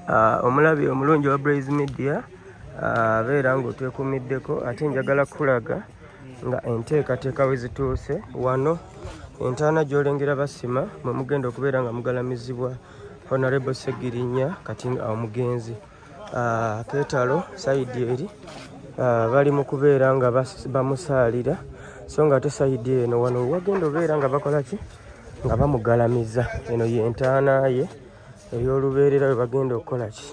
Ah, omulabi omulungi wa braise media ah, abeera uh, ngaotwekumiddeko ate njagala kukulaga nga enteekateeka we zituuse wano entaana gyolengera basima mwe mugenda okubeera nga mugalamizibwa honorable segirinya kati awo mugenzi ah, ketalo saidi eri ah, bali mu kubeera nga bamusaalira so nga ate saidi eno wano wagenda obeera nga bakola ki nga bamugalamiza eno yentaana ye ey'olubeerera we bagenda okukola ki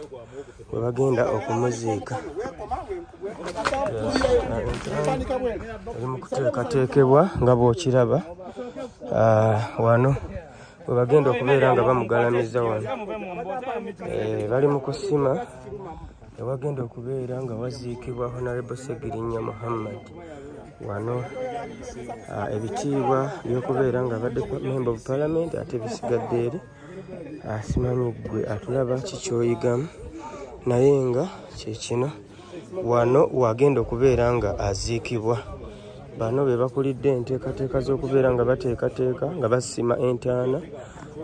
we bagenda okumuziika eri mu kuteekateekebwa nga bw'okiraba ah, wano we bagenda okubeera nga bamugalamizza wano eh, bali mu kusima ewagenda okubeera nga waziikibwa honarebo segirinya muhammad wano ah, ebitiibwa byokubeera nga abadde memba of parliament ate bisigadde eri asimanyi ah, gwe atulaba kikyoyigamu naye nga kyekino wano wagenda okubeera nga aziikibwa bano be bakulidde enteekateeka z'okubeera nga bateekateeka nga basima entaana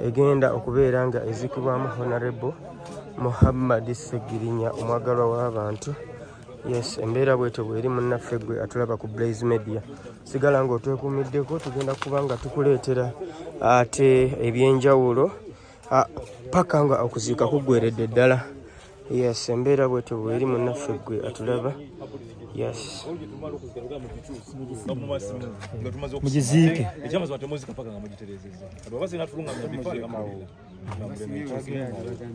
egenda okubeera nga ezikibwamu honarebo muhammad segirinya omwagalwa w'abantu yes embeera bwetyo bweri munnaffe gwe atulaba ku blaze media sigala nga otwekuumiddeko tugenda kuba nga tukuleetera ate ebyenjawulo ah, paka nga okuziika kuggweredde ddala yes embeera bwetyo bweri munaffe gwe atulaba yes mugiziike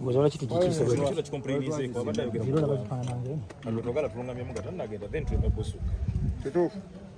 muzola kiti gikiise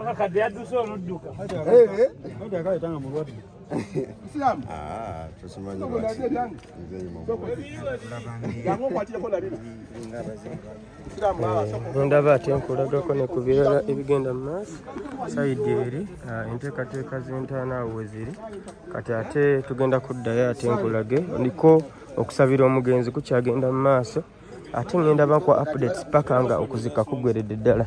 akakadde yadduse oludduka ndaba ate nkulagako ne ku birala ebigenda mu maaso sayidi eri ah, enteekateeka z'entaana awo we ziri kati ate tugenda kuddayo ate nkulage ndiko okusabira omugenzi kukyagenda mu maaso ate ngenda bakwa updates paka nga okuzika kugweredde ddala